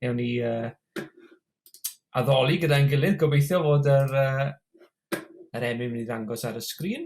Ewn ni uh, addoli gyda'n gilydd. Gobeithio fod yr, uh, yr emyn mynd i ddangos ar y sgrin.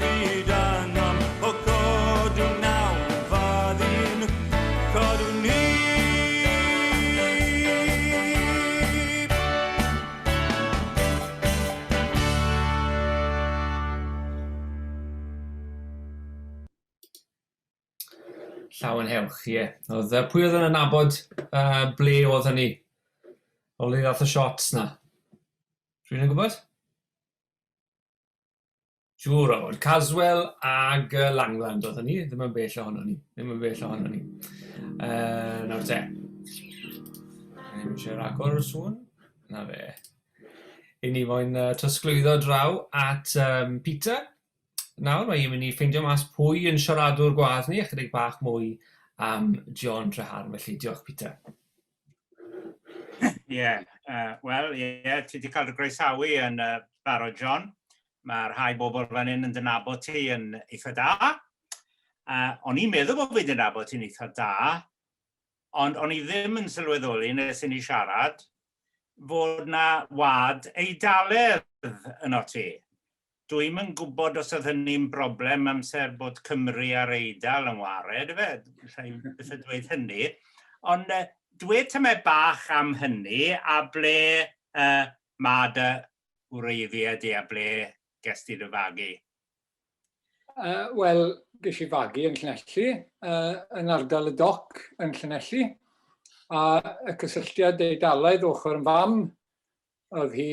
Hyd yn oed o godwm naw fad un codwn i. Llawen hewch, ie. Oedd, uh, pwy oedd yn anabod uh, ble oedd hynny? O le ddath y shots na? Rwy'n yn gwybod? Siŵr o fod. Caswell ag uh, Langland oedd hynny, ddim yn bell ohono ni. Ddim yn bell ohono ni. Uh, nawr te. Ddim eisiau rhagor o sŵn. Na fe. I ni moyn uh, trosglwyddo draw at um, Peter. Nawr mae i'n mynd i ffeindio mas pwy yn siaradwr gwadd ni, a chydig bach mwy am John Treharn. Felly, diolch Peter. Ie, yeah, uh, wel, ie, yeah, ti wedi cael dy groesawu yn uh, barod, John. Mae rhai bobl fan hyn yn dynabod ti yn eitha da. Uh, o'n i'n meddwl bod fi'n dynabod ti'n eitha da, ond o'n i ddim yn sylweddoli nes i ni siarad fod na wad eidalerdd yn o ti. Dwi'm yn gwybod os oedd hynny'n broblem amser bod Cymru a'r Eidal yn ware ydy fe? Alla i byth dweud hynny. Ond uh, dwe tymau bach am hynny a ble uh, mae dy wreiddiau di a ble ges ti dy fagu? Uh, Wel, ges i fagu yn Llanelli, uh, yn ardal y doc yn Llanelli, a y cysylltiad Eidalaidd ochr yn fam Oedd hi,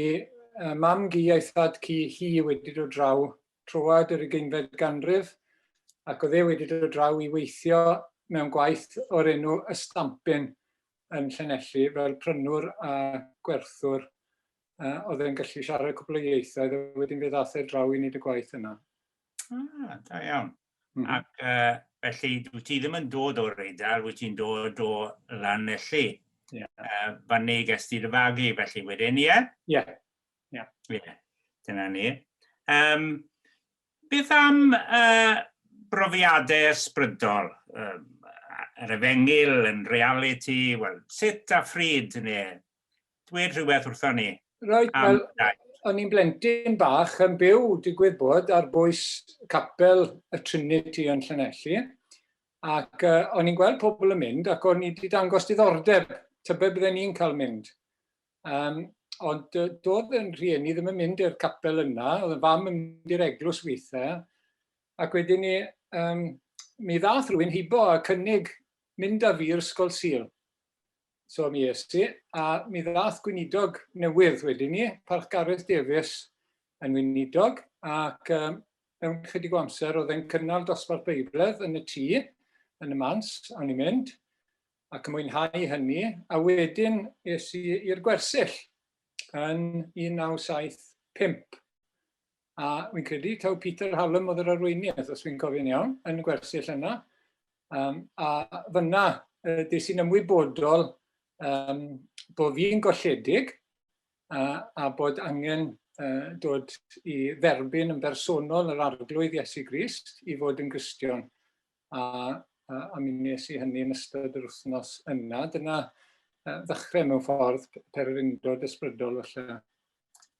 mam-gu a'i thad-cu hi wedi dod draw troad yr ugeinfed ganrif ac oedd e wedi dod draw i weithio mewn gwaith o'r enw Y Stampin yn Llanelli fel prynwr a gwerthwr. Oedd e'n gallu siarad cwpl o ieithoedd a wedyn fe ddaeth e draw i wneud y gwaith yna. Ah, da iawn. Ac uh, felly, wyt ti ddim yn dod o'r Eidal, wyt ti'n dod o Lanelli. Yeah. Uh, fan neu ges ti dy fagu, felly wedyn, ie? Ie. Ie. Dyna ni. Um, beth am uh, brofiadau ysbrydol? Um, yr efengil, yn reality, wel, sut a phryd neu dweud rhywbeth wrthon ni Reit, am wel, daith. o'n i'n blentyn bach yn byw, digwydd bod, ar bwys capel y Trinity yn Llanelli, ac uh, o'n i'n gweld pobl yn mynd, ac o'n i wedi dangos diddordeb, tybed bydden ni'n cael mynd. Um, ond uh, doedd yn rhieni ddim yn mynd i'r capel yna, oedd yn fam yn mynd i'r eglwys weithiau, ac wedyn ni, um, mi ddath rhywun hibo a cynnig mynd â fi i'r Ysgol Sil. So mi es i, a mi ddath gweinidog newydd wedyn ni, Parch Gareth Davies, yn weinidog, ac um, mewn chydig o amser oedd e'n cynnal dosbarth Beibledd yn y tŷ, yn y mans, awn i'n mynd, ac yn mwynhau hynny, a wedyn es i i'r gwersyll yn 1975. A fi'n credu taw Peter Hallam oedd yr arweinydd, os fi'n cofio'n iawn, yn y gwersyll yna. Um, a fyna, uh, des i'n ymwybodol um, bod fi'n golledig a, a bod angen uh, dod i dderbyn yn bersonol yr arglwydd Iesu Grist i fod yn gristion. A, a, a mi nes i hynny yn ystod yr wythnos yna. Dyna uh, ddechrau mewn ffordd per yr undod ysbrydol felly.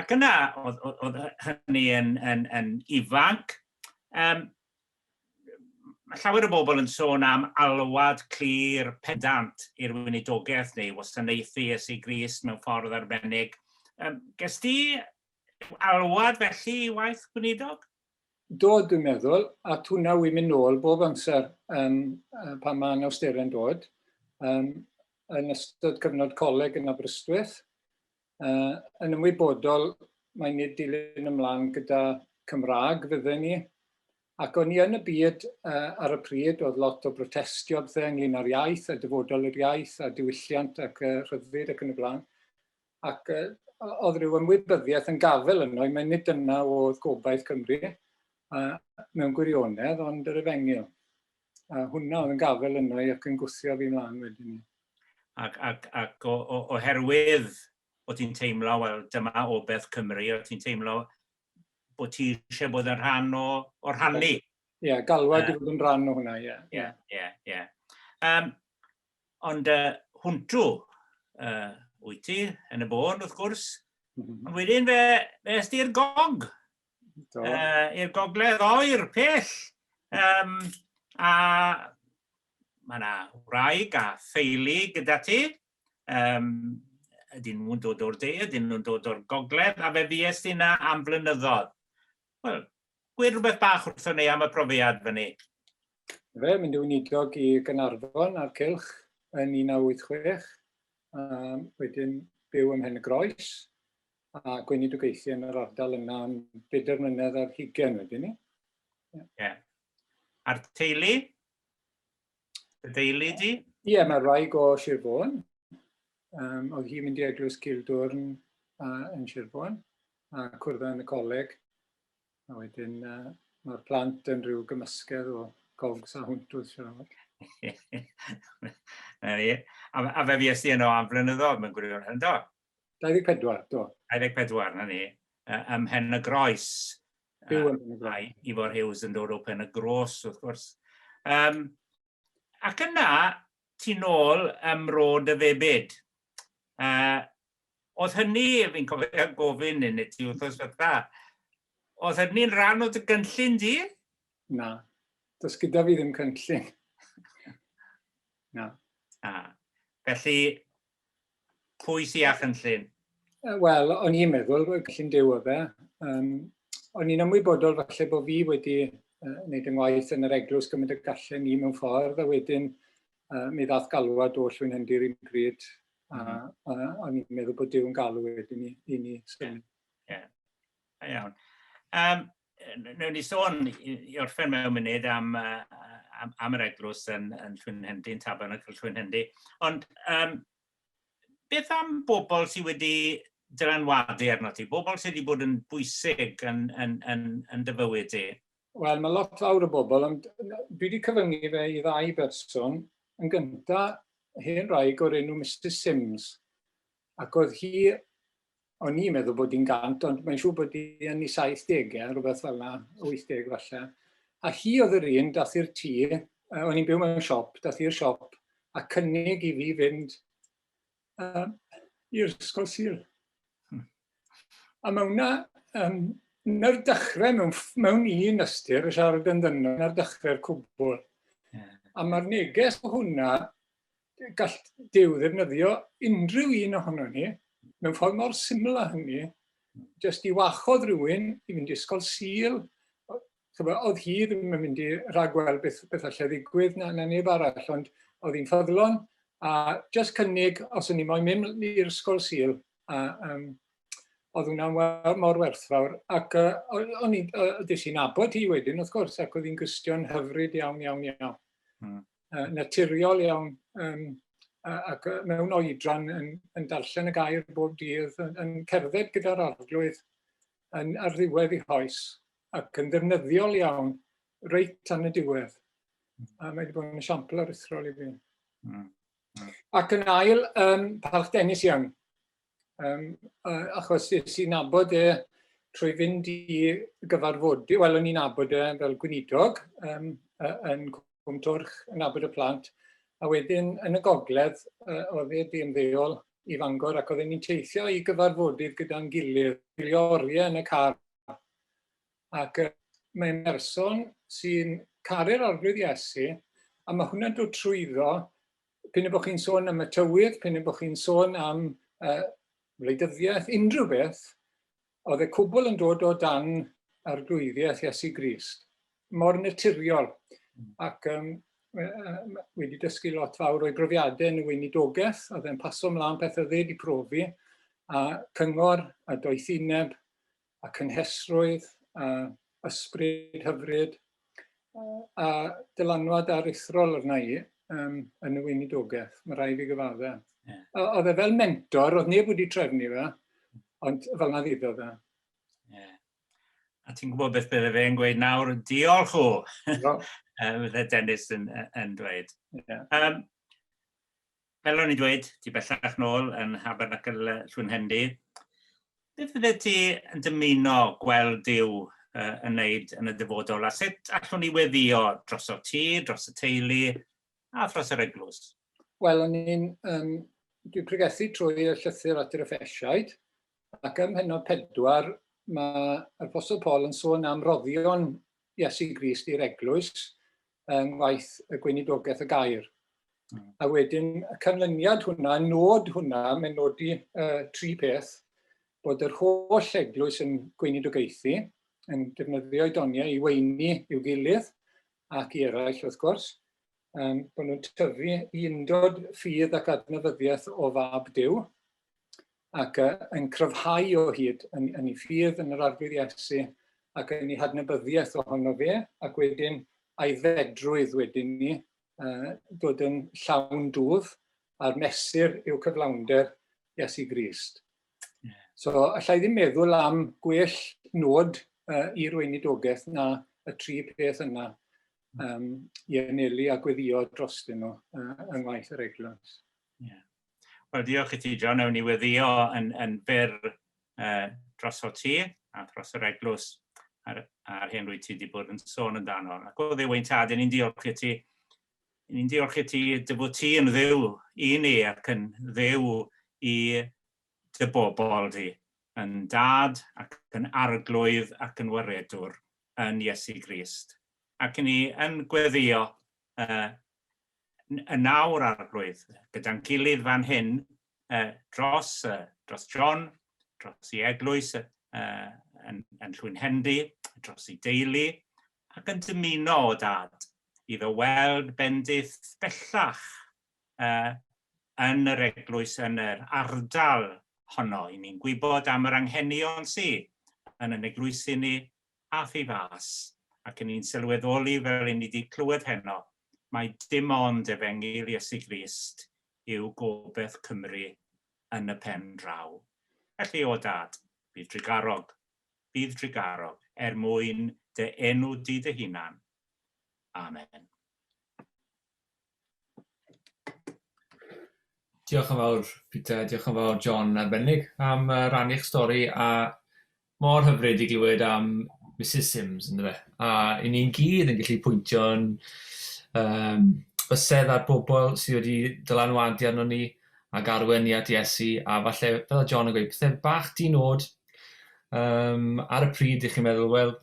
Ac yna, oedd, oedd, oedd hynny yn, yn, yn ifanc, um, mae llawer o bobl yn sôn am alwad clir pedant i'r weinidogaeth neu wasanaethu Iesu Grist mewn ffordd arbennig. Um, ges ti alwad felly i waith gweinidog? Do, dwi'n meddwl, a hwnna wy'n mynd nôl bob amser um, pan mae anawsterau'n dod. Um, yn ystod cyfnod coleg yn Aberystwyth, Uh, yn ymwybodol, mae nid dilyn ymlaen gyda Cymraeg fydden ni, ac o'n i yn y byd uh, ar y pryd, oedd lot o brotestio bydde ynglyn â'r iaith, a dyfodol yr iaith, a diwylliant ac uh, rhyddid ac yn y blaen. Ac uh, oedd rhyw ymwybyddiaeth yn gafel yno, i mae nid dyna oedd gobaith Cymru uh, mewn gwirionedd, ond yr efengyl. A hwnna oedd yn gafel yna i ac yn gwthio fi mlaen wedyn ni. Ac, ac, ac o, o, oherwydd o ti'n teimlo, wel, dyma obeth Cymru, o ti'n teimlo bod ti eisiau bod yn rhan o, o rhannu. Ie, yeah, galwad i fod yn rhan o hwnna, ie. Ie, ie, ie. Ond uh, hwntw uh, wyt ti yn y bôn, wrth gwrs. Mm -hmm. Ond wedyn fe, fe ysdi'r gog. uh, i'r gogledd oer, pell. Um, a mae yna wraig a theulu gyda ti. Um, ydyn nhw'n dod o'r de, ydyn nhw'n dod o'r gogledd, a fe fues ti yna am flynyddoedd. Wel, gwir rhywbeth bach wrthyn ni am y profiad fyny. Fe, mynd i'n idog i Gynarfon a'r Cylch yn 1986, a wedyn byw ym Mhen y Groes, a gweinidogaethu yn yr ardal yna am bedair mlynedd ar hugen wedyn ni. Ie. Yeah. A'r teulu? Y deulu di? Ie, yeah, mae rai go Sir Fôn. Um, oedd hi'n mynd i eglwys Gildwrn uh, yn Sir Fôn, a cwrdd yn y coleg. A wedyn uh, mae'r plant yn rhyw gymysgedd o gogs a hwnt wrth siarad. a, a fe fi esti yno am flynyddoedd, mae'n gwirion hynny. 24, do. 24, na ni, ym Mhen y Groes. Byw yn Mhen y Groes. Ifor Hughes yn dod o Pen y Gros, wrth gwrs. Um, ac yna, ti'n ôl ym Mro dy Febyd. Uh, oedd hynny, fi'n cofio gofyn yn y ti wrthos fatha, oedd hynny'n rhan o dy gynllun di? Na, does gyda fi ddim cynllun. Na. A, felly, Pwy sy â chynllun? Wel, o'n i'n meddwl, cynllun dew o fe. Um, o'n i'n ymwybodol falle bod fi wedi uh, wneud yn waith yn yr eglwys gymaint y gallen ni mewn ffordd, a wedyn uh, mi ddath galwad o llwyn hyndy'r un pryd, a, mhm. a, a o'n i'n meddwl bod dew'n galw wedyn i, i ni. Yeah. Yeah. Iawn. Um, newn ni sôn i orffen mewn munud am am am yr eglwys yn yn Llwynhendy yn Tabernacl Llwynhendy ond yym beth am bobl sydd wedi dylanwadu arno ti bobl sydd wedi bod yn bwysig yn yn yn yn dy fywyd di? Wel mae lot fawr o bobl ond dwi wedi cyfyngu fe i ddau berson yn gynta hen wraig o'r enw Mrs Sims Ac oedd hi, o'n i'n meddwl bod hi'n gant, ond mae'n siŵr bod hi yn ei 70au, rhywbeth fel yna, 80 falle. A hi oedd yr un, dath i'r tŷ, uh, o'n i'n byw mewn siop, dath i'r siop a cynnig i fi fynd uh, i'r ysgol syl. Hmm. A mae hwnna, um, na'r dechrau mewn, mewn un ystyr, y siarad yn ddynol, na'r dechrau'r cwbl. Yeah. A mae'r neges o hwnna gall Duw ddefnyddio unrhyw un ohono ni mewn ffordd mor syml â hynny, jyst i wachodd rhywun i fynd i ysgol sil, oedd hi ddim yn mynd i ragweld beth, beth allai ddigwydd na, na neb arall, ond oedd hi'n ffyddlon, a jyst cynnig, os o'n i moyn mynd i'r ysgol sil, a um, oedd hwnna'n mor werthfawr. Ac uh, o'n i, uh, dys i'n abod hi wedyn, wrth gwrs, ac oedd hi'n gystion hyfryd iawn, iawn, iawn. Hmm. naturiol iawn yym ac mewn oedran yn yn darllen y gair bob dydd yn yn cerdded gyda'r arglwydd yn ar ddiwedd ei hoes ac yn ddefnyddiol iawn reit tan y diwedd. A mae wedi bod yn esiampl aruthrol i fi. Hmm. Hmm. Ac yn ail, um, Palch Dennis Young. Um, achos es i'n nabod e trwy fynd i gyfarfodydd, wel o'n i'n nabod e fel gweinidog um, yn Cwmtwrch, yn nabod y plant, a wedyn yn y gogledd uh, oedd e di ymddeol i Fangor ac oedden ni'n teithio i gyfarfodydd gyda'n gilydd, gwylio oriau yn y car. Ac uh, mae'n person sy'n caru'r arglwydd Iesu, a mae hwnna'n dod trwyddo P'un a bod chi'n sôn am y tywydd, p'un a bod chi'n sôn am uh, wleidyddiaeth, unrhyw beth, oedd y cwbl yn dod o dan arglwyddiaeth Iesu Grist, mor naturiol. Hmm. Ac um, wedi dysgu lot fawr o'i brofiadau yn y weinidogaeth, oedd e'n paso mlaen pethau dde wedi profi, a cyngor a doethineb a cynhesrwydd a ysbryd hyfryd a dylanwad aruthrol arna i um, yn y weinidogaeth, mae rhaid i gyfadda. Yeah. Oedd e fel mentor, oedd neb wedi trefnu fe, ond fel na ddiddo fe. Yeah. A ti'n gwybod beth bydde fe'n gweud nawr, diolch o, bydde Dennis yn, yn dweud. Yeah. Um, Helon i ddweud, ti bellach nôl yn Nhabernacle Llwynhendy. Beth fyddet ti yn dymuno gweld Duw yn wneud yn y dyfodol, a sut allwn ni weddio drosof ti, dros y teulu, a thros yr eglwys? Wel, o'n i'n, um, dwi'n pregethu trwy y llythyr at yr Effesiaid, Ac ym mhennod pedwar, mae'r Apostol Paul yn sôn am roddion Iesu Grist i'r eglwys yng ngwaith y gweinidogaeth y gair. Hmm. A wedyn y canlyniad hwnna, y nod hwnna, mae'n nodi uh, tri peth, bod yr holl eglwys yn gweinidogaethu, yn defnyddio doniau i weini i'w gilydd ac i eraill wrth gwrs, um, bod nhw'n tyfu i undod ffydd ac adnafyddiaeth o fab Dyw, ac yy yn cryfhau o hyd yn yn ei ffydd yn yr Arglwydd Iesu ac yn ei hadnabyddiaeth ohono fe ac wedyn a'i fedrwydd wedyn ni uh, dod yn llawn dwf a'r mesur yw cyflawnder Iesu Grist. So allai ddim meddwl am gwell nod uh, i'r weinidogaeth na y tri peth yna um, i anelu a gweddio drostyn nhw uh, yng ngwaith yr eglwys. Yeah. Wel, diolch i ti, John. Ewn ni weddio yn, yn fer uh, dros o ti a dros yr eglwys a'r, ar hyn rwy ti wedi bod yn sôn yn dan hon. Ac o ddiwy'n tad, ni'n diolch i ti. Ni'n diolch i ti dy bod ti yn ddew i ni ac yn ddew i dy bobl di. Yn dad ac yn arglwydd ac yn waredwr yn Iesu Grist. Ac ni yn gweddio uh, yn awr, Arglwydd, gyda'n gilydd fan hyn, uh, dros, uh, dros John, dros i eglwys uh, yn, yn Llwyn Hendy, dros i deulu, ac yn dymuno o dad iddo weld bendith bellach uh, yn yr eglwys yn yr ardal honno. I ni'n gwybod am yr anghenion sydd yn yn eglwysi ni a thu fas, ac yn i'n sylweddoli fel i ni 'di clywed heno, mai dim ond efengyl Iesu Grist yw gobeth Cymru yn y pen draw. Felly, o Dad, bydd drugarog, bydd drugarog, er mwyn dy enw di dy hunan. Amen. Diolch yn fawr Peter, diolch yn fawr John arbennig am uh, rannu'ch stori a mor hyfryd i glywed am Mrs Sims yn dweud. A i ni'n gyd yn gallu pwyntio'n um, bysedd ar bobl sydd wedi dylanwadu arno ni ac arwen ni at Iesu a falle fel o John yn gweud pethau bach di nod um, ar y pryd i chi'n meddwl wel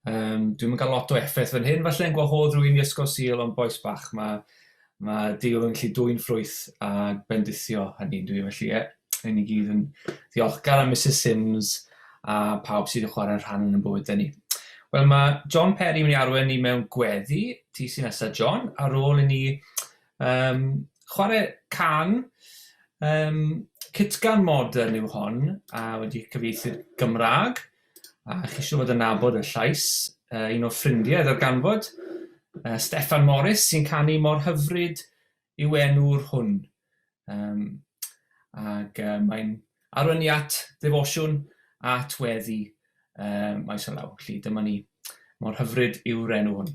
Um, dwi'n mynd cael lot o effaith fan hyn, falle yn gwahodd rwy'n i ysgol sil o'n boes bach. Mae, mae Deul yn gallu dwy'n ffrwyth a bendithio hynny dwi felly e. Rwy'n i gyd yn ddiolchgar am Mrs Sims a pawb sydd wedi chwarae rhan yn y bywydau ni. Wel, mae John Perry yn mynd i arwen ni mewn gweddi, ti sy'n nesaf John, ar ôl i ni um, chwarae can um, Cytgan modern yw hon, a wedi cyfeithi Gymraeg. A chi siŵr fod yn nabod y llais, uh, un o ffrindiau ddarganfod, uh, Steffan Morris sy'n canu mor hyfryd yw enw'r hwn. Um, ac uh, mae'n arwenu at ddefosiwn at weddi uh, maes o law. Felly dyma ni, mor hyfryd yw'r enw hwn.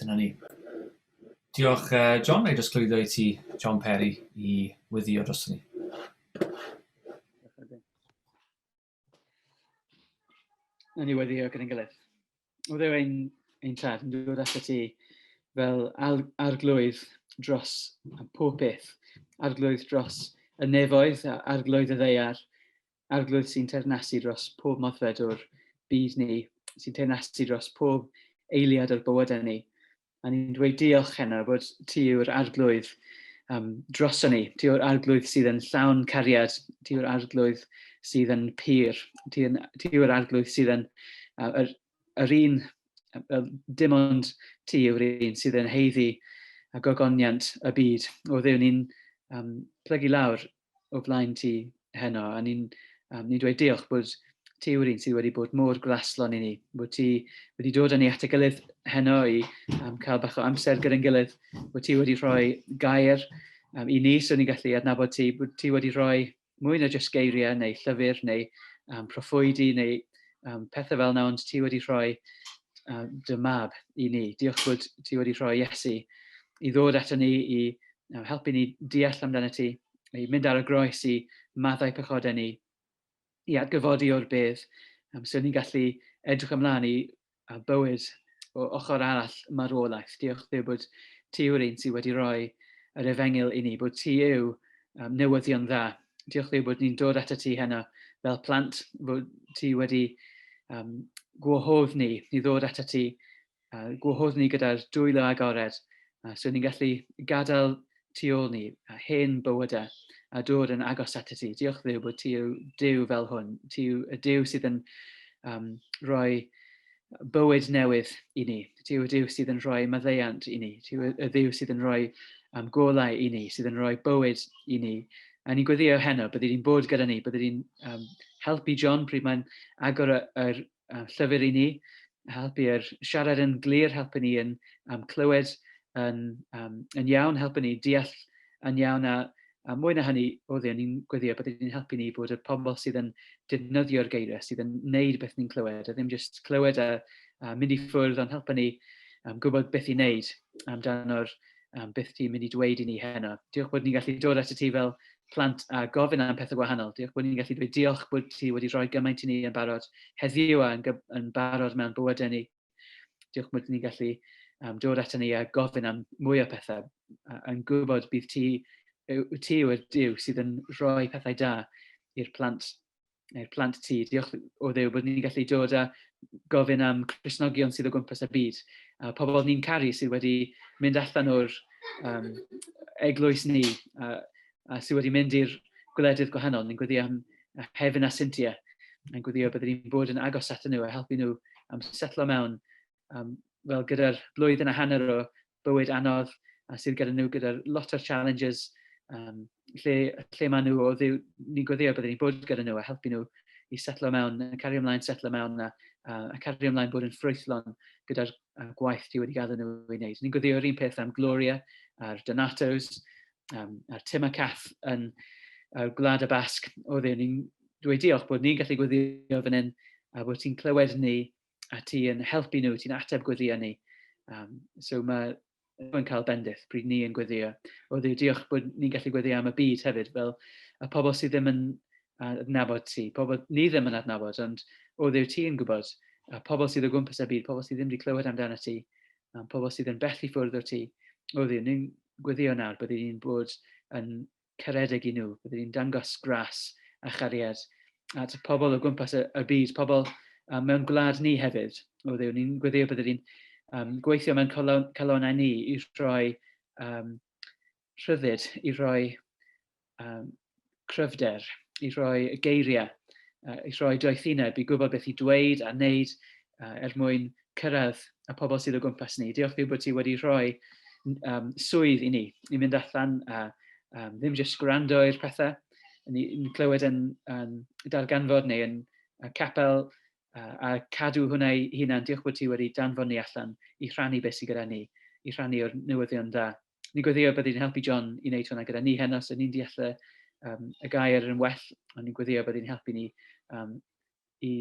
Dyna ni. Diolch, uh, John. Neu jyst clwyddo i ti, John Perry, i wyddio dros ni. O'n i wedi o gyda'n gilydd. Oedd e ein, ein tad yn dod at y ti fel arglwydd dros pob peth. Arglwydd dros y nefoedd, arglwydd y ddeiar, arglwydd sy'n ternasu dros pob moddfed o'r byd ni, sy'n ternasu dros pob eiliad o'r bywydau ni. A ni'n dweud diolch, Heno, bod ti yw'r arglwydd um, droson ni. Ti yw'r arglwydd sydd yn llawn cariad. Ti yw'r arglwydd sydd yn pyr. Ti, yn, ti yw'r arglwydd sydd yn uh, yr, yr un, uh, dim ond ti yw'r un sydd yn heiddi a gogoniant y byd. O ddew, ni'n um, plygu lawr o flaen ti heno, a ni'n um, ni dweud diolch bod ti yw'r un sydd wedi bod mor graslon i ni, bod ti wedi dod â ni at y gilydd heno i um, cael bach o amser gyda'n gilydd, bod ti wedi rhoi gair um, i ni so ni'n gallu adnabod ti, bod ti wedi rhoi mwy na jyst geiriau neu llyfr neu um, proffwydi neu um, pethau fel yna, ond ti wedi rhoi um, dy mab i ni. Diolch bod ti wedi rhoi Iesu i ddod ato ni, i helpu ni deall amdano ti, i mynd ar y groes i maddau pechodau ni, i atgyfodi o'r bydd, um, so ni'n gallu edrych ymlaen i a bywyd o ochr arall marwolaeth. Diolch ddew bod ti yw'r un sydd wedi rhoi yr efengyl i ni, bod ti yw um, newyddion dda. Diolch ddew bod ni'n dod ato ti heno fel plant, bod ti wedi um, gwahodd ni i ddod ato ti a gwahodd ni gyda'r dwylo agored, a so ni'n gallu gadael tu ôl ni a hen bywydau a dod yn agos at y ti. Diolch ddew bod ti yw dew fel hwn. Ti yw y dew sydd yn um, rhoi bywyd newydd i ni. Ti yw y dew sydd yn rhoi maddeiant i ni. Ti yw y dew sydd yn rhoi um, golau i ni, sydd yn rhoi bywyd i ni. A ni'n gweddio heno, bydde di'n bod gyda ni, bydde di'n um, helpu John pryd mae'n agor y, y, uh, llyfr i ni, helpu i'r siarad yn glir, helpu ni yn um, clywed yn, um, yn iawn, helpu ni deall yn iawn a, a mwy na hynny, oedd yn ni'n gweddio bod yn helpu ni bod y pobl sydd yn defnyddio'r geiriau, sydd yn neud beth ni'n clywed, a ddim jyst clywed a, a mynd i ffwrdd, ond helpu ni um, gwybod beth i wneud amdano'r um, beth ti'n mynd i dweud i ni heno. Diolch bod ni'n gallu dod at y ti fel plant a gofyn am pethau gwahanol. Diolch bod ni'n gallu dweud diolch bod ti wedi rhoi gymaint i ni yn barod heddiw a yn, yn barod mewn bywydau ni. Diolch bod ni'n gallu um, dod at ni a gofyn am mwy o pethau. Yn gwybod bydd ti, ti yw'r diw sydd yn rhoi pethau da i'r plant neu'r plant ti, diolch o ddew bod ni'n gallu dod a gofyn am Cresnogion sydd o gwmpas y byd, a pobl ni'n caru sydd wedi mynd allan o'r um, eglwys ni, a, a sydd wedi mynd i'r gwledydd gwahanol. Ni'n gweddio am Hefin a Cynthia, ni'n gweddio byddwn ni'n bod yn agos at nhw a helpu nhw am setlo mewn um, wel, gyda'r blwyddyn a hanner o bywyd anodd a sydd gyda nhw gyda'r lot o'r challenges um, lle, lle maen nhw o ddiw, ni'n gweddio byddwn ni'n bod gyda nhw a helpu nhw i setlo mewn, a cario ymlaen setlo mewn a, a, a cario ymlaen bod yn ffrwythlon gyda'r gwaith ti wedi gadw nhw i wneud. Ni'n gweddio yr un peth am Gloria a'r Donatos um, a'r Tim a Cath yn uh, Gwlad y Basg. O ddew, ni'n dweud diolch bod ni'n gallu gweddio fan hyn a bod ti'n clywed ni a ti yn helpu nhw, ti'n ateb gweddio ni. Um, so mae yn cael bendith pryd ni yn gweddio. O ddiw, diolch bod ni'n gallu gweddio am y byd hefyd, fel y pobl sydd ddim yn adnabod ti, pobl ni ddim yn adnabod, ond o ddiw ti yn gwybod, a pobl sydd o gwmpas y byd, pobl sydd ddim wedi clywed amdano ti, a pobl sydd yn bell i ffwrdd o ti. O ddiw, ni'n gweddio nawr bod ni'n bod yn caredig i nhw, byddwn ni'n dangos gras a chariad at y pobl o gwmpas y, y byd, pobl um, mewn gwlad ni hefyd, o ddew, ni'n gweddio byddwn ni'n um, gweithio mewn calonau ni i roi um, rhyddid, i roi um, cryfder, i roi geiriau, uh, i roi doethineb, i gwybod beth i dweud a wneud uh, er mwyn cyrraedd y pobl sydd o gwmpas ni. Diolch fi bod ti wedi rhoi um, swydd i ni, i fynd allan a um, ddim jyst gwrando i'r pethau, ni'n clywed yn, yn darganfod neu yn uh, capel uh, a cadw hwnna i hunan. Diolch bod ti wedi danfod ni allan i rhannu beth sydd gyda ni, i rhannu o'r newyddion dda. Ni gweddio bod ni'n helpu John i wneud hwnna gyda ni heno, so ni'n deall y, um, y gair yn well, ond ni'n gweddio bod ni'n helpu ni um, i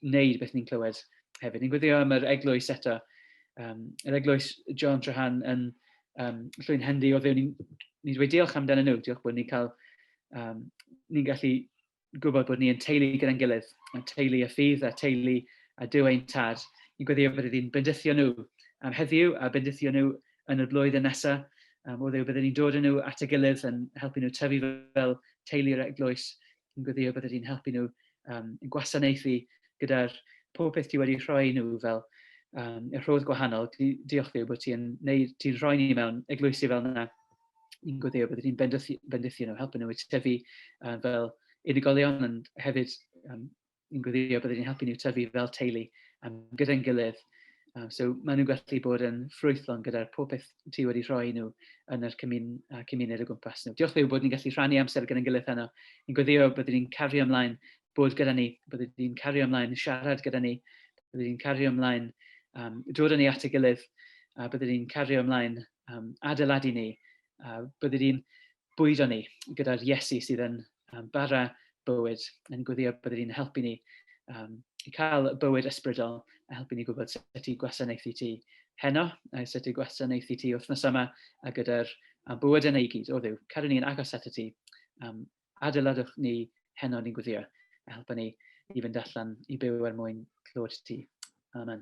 wneud beth ni'n clywed hefyd. Ni'n gweddio am yr eglwys eto. Um, yr eglwys John Trahan yn um, llwy'n hendi o ddew. Ni'n ni dweud diolch amdano nhw. Diolch bod ni'n cael, um, ni'n gallu gwybod bod ni'n teulu gyda'n gilydd. A teulu y ffydd a teulu a dyw ein tad. Ni'n gweddio bod ydy'n bendithio nhw am heddiw a bendithio nhw yn y blwyddyn nesaf. Um, o ddew, byddwn ni'n dod yn nhw at y gilydd yn helpu nhw tyfu fel teulu yr eglwys yn gweddio bydde di'n helpu nhw um, yn gwasanaethu gyda'r pob peth ti wedi rhoi nhw fel um, y rhodd gwahanol. Di, diolch ddiw bod ti'n ti rhoi ni mewn eglwysi fel yna i'n gweddio bydde di'n bendithu nhw, helpu nhw i tyfu uh, fel unigolion ond hefyd um, yn gweddio byddwn ni'n helpu nhw tyfu fel teulu um, gyda'n gilydd. Um, so maen nhw'n gallu bod yn ffrwythlon gyda'r pob peth ti wedi rhoi nhw yn yr cymun, uh, cymuned o gwmpas nhw. Diolch ddew bod ni'n gallu rhannu amser gyda'n gilydd heno. Yn gweddio byddwn ni'n cario ymlaen bod gyda ni, byddwn ni'n cario ymlaen siarad gyda ni, byddwn ni'n cario ymlaen um, dod yn ei at y gilydd, a byddwn ni'n cario ymlaen um, adeiladu ni, a byddwn ni'n bwydo ni gyda'r Iesu sydd yn um, bara bywyd, yn gweddio bod ydy'n helpu ni um, i cael bywyd ysbrydol a helpu ni gwybod sut i gwasanaethu ti heno, a sut i gwasanaethu ti wythnos yma, a gyda'r bywyd yna i gyd, o ddiw, cadw ni'n agos at y ti, um, adeiladwch ni heno ni'n gweddio, a helpu ni i fynd allan i byw er mwyn clywed ti. Amen.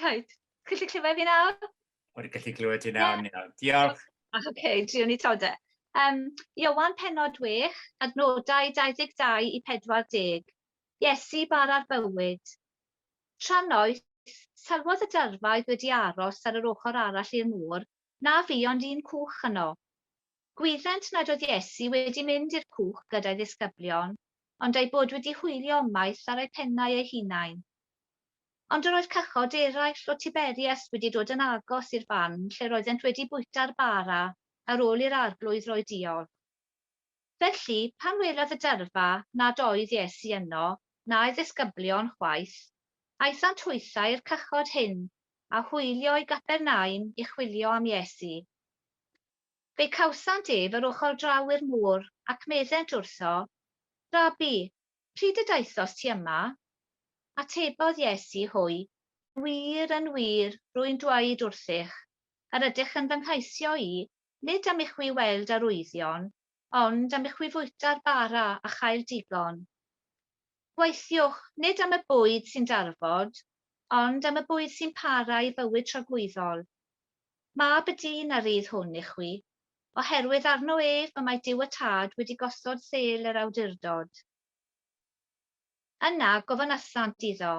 Rhaid. Chi'n gallu clywed fi nawr? Wedi gallu clywed ti nawr, yeah. Diolch. Oce, okay, driwn ni to de. Um, Iowan penod 6, adnodau 22 i 40. Iesu bar ar bywyd. Tra noes, sylwodd y dyrfaoedd wedi aros ar yr ochr arall i'r môr, na fi ond un cwch yno. Gwyddent nad oedd Iesu wedi mynd i'r cwch gyda'i ddisgyblion, ond eu bod wedi hwylio ymaith ar eu pennau eu hunain. Ond yr oedd cychod eraill o Tiberias wedi dod yn agos i'r fan lle roeddent wedi bwyta'r bara ar ôl i'r Arglwydd roi diolch. Felly, pan welodd y dyrfa nad oedd Iesu yno, na'i ddisgyblion chwaith, aethant hwythau i'r cychod hyn, a hwylio i Gapernaum i chwilio am Iesu. Fe cawsant ef yr ochr draw i'r môr, ac meddent wrtho, Rabi, pryd y daethost ti yma? Atebodd Iesu hwy, Yn wir, yn wir, rwy'n dweud wrthych, yr ydych yn fy nghaesio i, nid am i chwi weld arwyddion, ond am i chwi fwyta'r bara a chael digon. Gweithiwch, nid am y bwyd sy'n darfod, ond am y bwyd sy'n para i fywyd tragwyddol. Mab y dyn a rydd hwn i chwi, oherwydd arno ef y mae Duw y Tad wedi gosod sêl yr awdurdod. Yna gofynnasant iddo,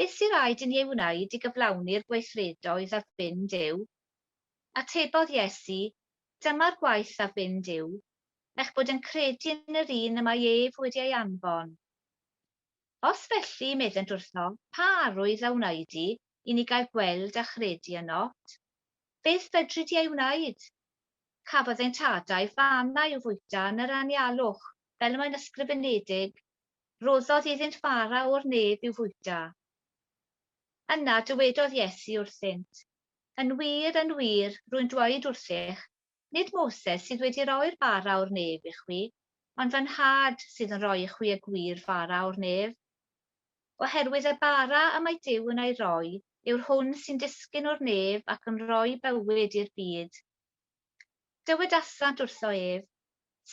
Beth sy'n rhaid i ni ei wneud i gyflawni'r gweithredoedd a fynd yw? Atebodd Iesu, Dyma'r gwaith a fynd yw, eich bod yn credu yn yr un y mae ef wedi ei anfon? Os felly, meddent wrtho, pa arwydd a wnei di i ni gael gweld a chredu ynot? Beth fedri di ei wneud? Cafodd ein tadau fannau i'w fwyta yn yr anialwch, fel y mae'n ysgrifenedig, Rhoddodd iddynt fara o'r nef i'w fwyta. Yna dywedodd Iesu wrthynt, Yn wir, yn wir, rwy'n dweud wrthych, Nid Moses sydd wedi roi'r bara o'r nef i chwi, ond fy Nhad sydd yn rhoi i chwi y gwir bara o'r nef. Oherwydd y bara y mae Duw yn ei roi yw'r hwn sy'n disgyn o'r nef ac yn rhoi bywyd i'r byd. Dywedasant wrtho ef,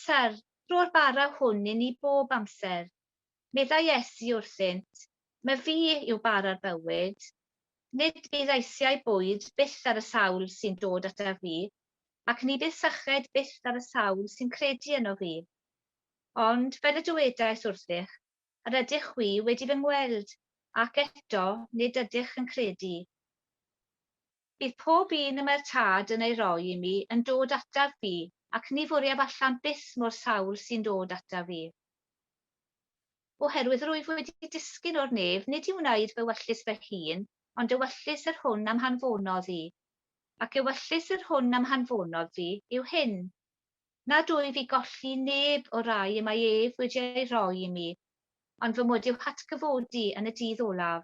Syr, rho'r bara hwn i ni bob amser. Meddai Iesu wrthynt, Mae fi yw bara'r bywyd. Nid bydd eisiau bwyd byth ar y sawl sy'n dod ataf fi, ac ni bydd syched byth ar y sawl sy'n credu ynof fi. Ond, fel y dywedais wrthych, yr ydych chwi wedi fy ngweld, ac eto nid ydych yn credu. Bydd pob un y mae'r Tad yn ei roi i mi yn dod ataf fi, ac ni fwriaf allan byth mo'r sawl sy'n dod ataf fi. Oherwydd rwyf wedi disgyn o'r nef, nid i wneud fy wellus fy hun, ond ewyllys yr hwn a'm hanfonodd i. Ac ewyllys yr hwn a'm hanfonodd fi yw hyn, nad wyf i golli i neb o'r rai y mae ef wedi ei roi i mi, ond fy mod i'w hatgyfodi yn y dydd olaf.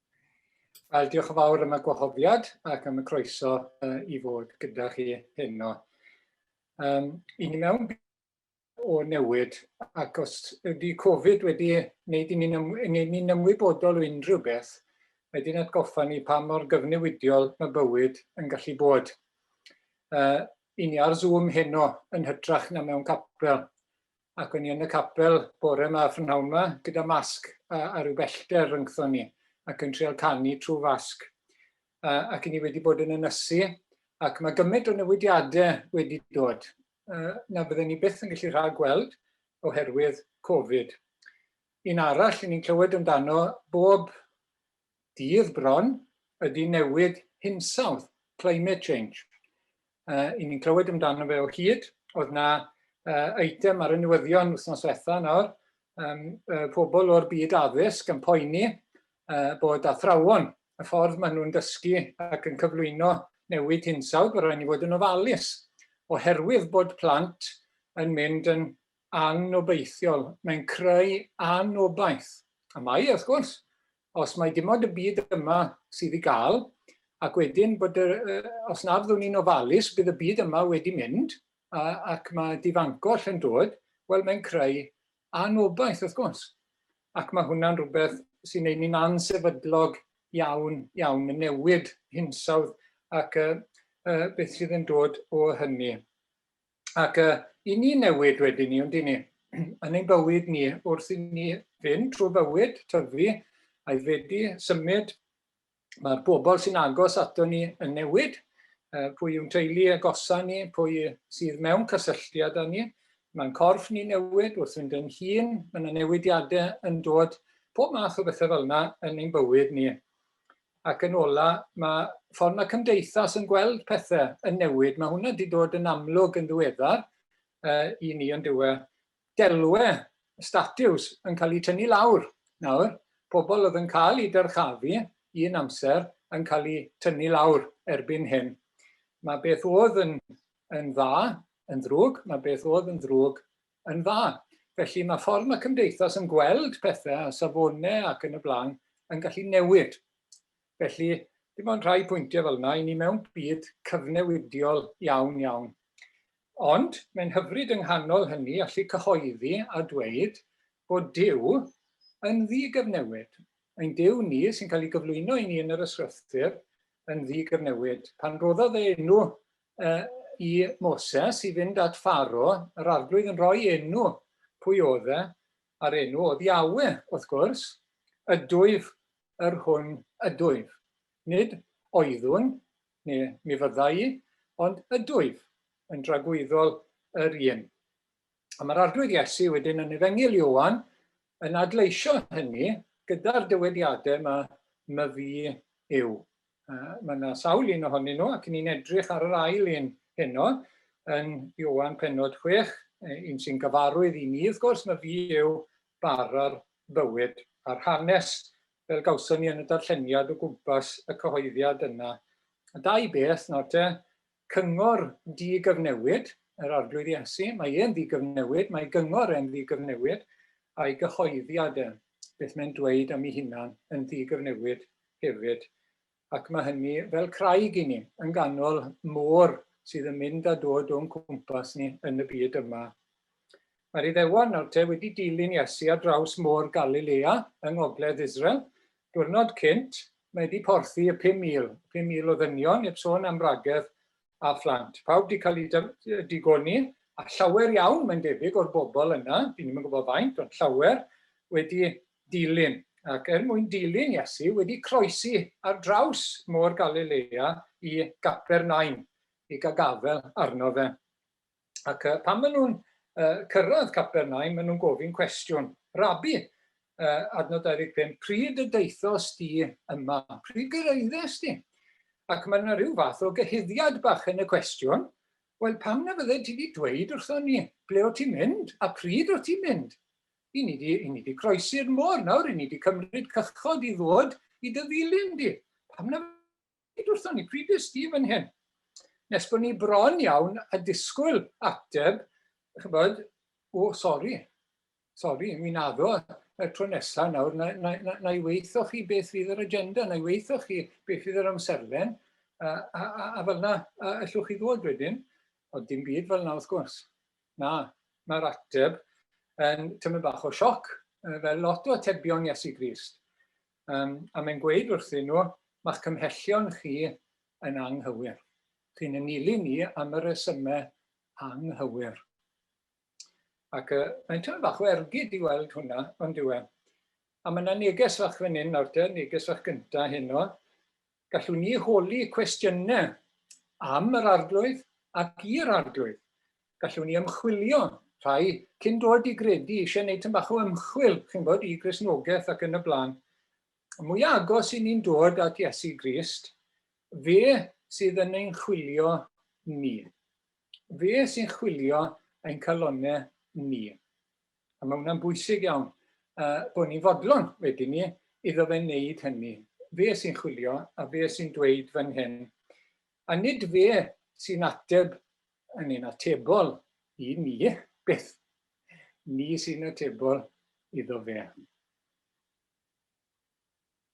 Wel, diolch yn fawr am y gwahoddiad ac am y croeso uh, i fod gyda chi heno. Um, I ni mewn o newid ac os ydy Covid wedi wneud i ni'n ni, ni ymwybodol o unrhyw beth, wedi'n atgoffa ni pa mor gyfnewidiol mae bywyd yn gallu bod. Uh, I ni ar Zoom heno yn hytrach na mewn capel. ac o'n i yn y capel bore 'ma, p'nawn 'ma, gyda masg a, a rhyw bellter rhyngthon ni, ac yn trial canu trwy fasg. A, ac i ni wedi bod yn ynysu, ac mae gymaint o newidiadau wedi dod uh, na bydden ni byth yn gallu rhag gweld oherwydd Covid. Un arall, ni'n clywed amdano bob Dydd bron ydy newid hinsawdd, climate change. Yy 'yn ni'n clywed amdano fe o hyd. O'dd 'na yy eitem ar y newyddion wythnos dwetha nawr, yym y pobl o'r byd addysg yn poeni yy bod athrawon, y ffordd ma' nhw'n dysgu ac yn cyflwyno newid hinsawdd, bo' raid ni fod yn ofalus oherwydd bod plant yn mynd yn angnobeithiol, mae'n creu anobaith. A mae, wrth gwrs, os mae dim ond y byd yma sydd i gael, ac wedyn bod, y, os na fyddwn ni'n ofalus, bydd y byd yma wedi mynd, a, ac mae difangoll yn dod, wel, mae'n creu anobaith, wrth gwrs. Ac mae hwnna'n rhywbeth sy'n ei ni'n ansefydlog iawn, iawn, y newid hinsawdd ac uh, uh, beth sydd yn dod o hynny. Ac uh, i ni newid wedyn ni, ond i ni, yn ein bywyd ni, wrth i ni fynd trwy bywyd, tyfu, a'i fedi, symud, mae'r bobl sy'n agos ato ni yn newid, uh, pwy yw'n teulu agosa ni, pwy sydd mewn cysylltiad â ni, mae'n corff ni newid wrth fynd yn hun, mae'n newidiadau yn dod pob math o bethau fel yna yn ein bywyd ni. Ac yn ola, mae ffordd mae cymdeithas yn gweld pethau yn newid. Mae hwnna wedi dod yn amlwg yn ddiweddar uh, i ni yn dywe. Delwe statiws yn cael eu tynnu lawr nawr. Pobl oedd yn cael eu dyrchafu un amser yn cael eu tynnu lawr erbyn hyn. Mae beth oedd yn, yn dda yn ddrwg, mae beth oedd yn ddrwg yn dda. Felly mae ffordd mae cymdeithas yn gweld pethau a safonau ac yn y blaen yn gallu newid. Felly, dim ond rhai pwyntiau fel yna, i ni mewn byd cyfnewidiol iawn iawn. Ond mae'n hyfryd yng nghanol hynny allu cyhoeddi a dweud bod Dyw yn ddigyfnewid. Ein Dyw ni sy'n cael ei gyflwyno i ni yn yr ysgrythur yn ddigyfnewid. Pan roddodd e enw i Moses i fynd at Pharo, yr Arglwydd yn rhoi enw pwy oedd e, a'r enw oedd Iawe, wrth gwrs, ydwyf yr hwn ydwyf. Nid oeddwn, neu mi fydda i, ond ydwyf, yn dragwyddol yr un. A mae'r Arglwydd Iesu wedyn yn Efengyl Ioan yn adleisio hynny gyda'r dywediadau yma, my fi yw. Mae yna sawl un ohonyn nhw ac ni'n edrych ar yr ail un heno yn Ioan penod 6, un sy'n gyfarwydd i ni, wrth gwrs, my fi yw bar ar bywyd a'r hanes fel gawson ni yn y darlleniad o gwmpas y cyhoeddiad yna. Y dau beth nawr te, Cyngor ddi-gyfnewid, yr Arglwydd Iesu, mae e'n ddi-gyfnewid, mae gyngor e'n ddi-gyfnewid, a'i gyhoeddiad e, beth mae'n dweud am ei hunan, yn ddi-gyfnewid hefyd. Ac mae hynny fel craig i ni, yn ganol môr sydd yn mynd a dod o'n cwmpas ni yn y byd yma. Mae'r Iddewon nawr te wedi dilyn Iesu ar draws Môr Galilea yng ngogledd Israel. Diwrnod cynt, mae 'di porthi y 5,000, 5,000 o ddynion, heb sôn am wragedd a phlant. Pawb 'di cael eu digoni, a llawer iawn, mae'n debyg, o'r bobl yna, dyn ni'm yn gwybod faint, ond llawer, wedi dilyn, ac er mwyn dilyn Iesu, wedi croesi ar draws Môr Galilea i Gapernaum, i gael gafel arno fe. Ac uh, pan maen nhw'n uh, cyrraedd Caper Nain, maen nhw'n gofyn cwestiwn. Rabi, uh, adnod 25, pryd y deithos di yma? Pryd gyrraeddes di? Ac mae yna rhyw fath o gyhuddiad bach yn y cwestiwn, Wel, pam na fydde ti wedi dweud wrtho ni ble o ti'n mynd a pryd o ti'n mynd? I ni di, i ni di croesi'r môr nawr, i ni di cymryd cychod i ddod i dy ddilyn di. Pam na Nid wrthon ni, pryd es ti fan hyn? Nes bod ni bron iawn a disgwyl ateb, chybod, o, sori, sori, mi naddo y tro nesaf nawr, na, na, na, na i weithio chi beth fydd yr agenda, na i weithio chi beth fydd yr amserlen, a, a, a, a fel na, a, allwch chi ddod wedyn, ond dim byd fel na wrth gwrs. Na, mae'r ateb yn tymor bach o sioc, fel lot o atebion Iesu Grist. Yym, a mae'n gweud wrthyn nhw, Mae'ch cymhellion chi yn anghywir. Chi'n ein nilyn ni am y rhesymau anghywir. Ac yy, mae'n teimlo bach o ergyd i weld hwnna, on'd yw e? A mae 'na neges fach fan hyn nawr te, neges fach gynta' heno, Gallwn ni holi cwestiynau am yr Arglwydd ac i'r Arglwydd. Gallwn ni ymchwilio, rhai cyn dod i gredu, eisiau gwneud tyn bach o ymchwil, chi'n bod, i Gristnogaeth ac yn y blaen. Y mwyaf agos i ni'n dod at Iesu Grist, fe sydd yn ein chwilio ni. Fe sy'n chwilio ein calonau ni. A mae hwnna'n bwysig iawn, uh, bod ni'n fodlon wedyn ni iddo fe wneud hynny. Fe sy'n chwilio a fe sy'n dweud fan hyn. A nid fe sy'n ateb yn ein atebol i ni, beth ni sy'n atebol iddo fe.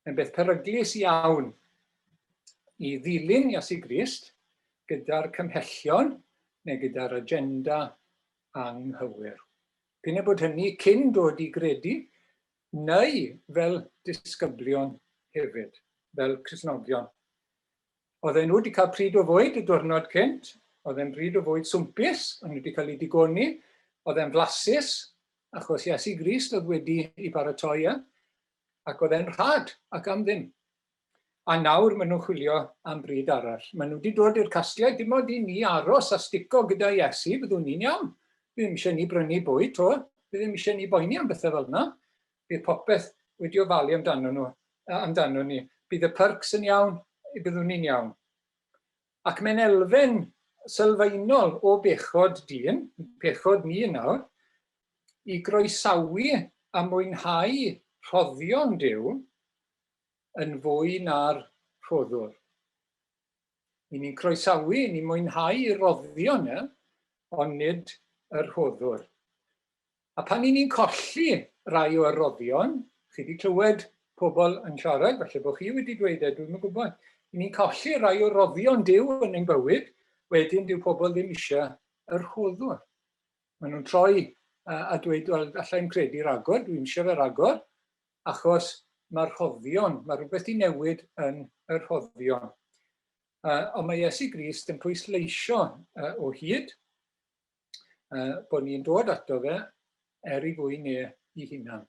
yn beth peryglus iawn i ddilyn Iesu Grist gyda'r cymhellion neu gyda'r agenda anghywir. P'un a bod hynny cyn dod i gredu neu fel disgyblion hefyd, fel Cristnogion. Oedd e'n wedi cael pryd o fwyd y diwrnod cynt, oedd e'n bryd o fwyd swmpus, ond wedi cael ei digoni, oedd e'n flasus, achos Iesu Grist oedd wedi ei baratoi e, ac oedd e'n rhad ac am ddim. A nawr maen nhw'n chwilio am bryd arall. Maen nhw wedi dod i'r casgliad, dim ond i ni aros a stico gyda Iesu, byddwn ni'n iawn. Bydd ddim eisiau ni brynu bwyd to, bydd ddim eisiau ni boeni am bethau fel yna. Bydd popeth wedi ofalu amdano nhw, amdano ni. Bydd y pyrcs yn iawn, byddwn ni'n iawn. Ac mae'n elfen sylfaenol o bechod dyn, pechod ni nawr, i groesawu a mwynhau rhoddion Duw yn fwy na'r rhoddwr. Ni'n ni'n croesawu, ni'n mwynhau roddion e, ond nid y rhoddwr. A pan 'y ni'n colli rai o roddion, chi 'di clywed pobl yn siarad, falle bod chi wedi dweud e, dwi'm yn gwybod, 'y ni'n colli rai o roddion Duw yn ein bywyd, wedyn dyw pobl ddim eisiau y rhoddwr. Maen nhw'n troi a dweud, wel, alla i'm credu ragor, dwi'n eisiau fe ragor, achos mae'r rhoddion, mae rhywbeth i newid yn y rhoddion. Uh, ond mae Iesu Grist yn pwysleisio uh, o hyd uh, bod ni'n dod ato fe er i fwy neu i hunan,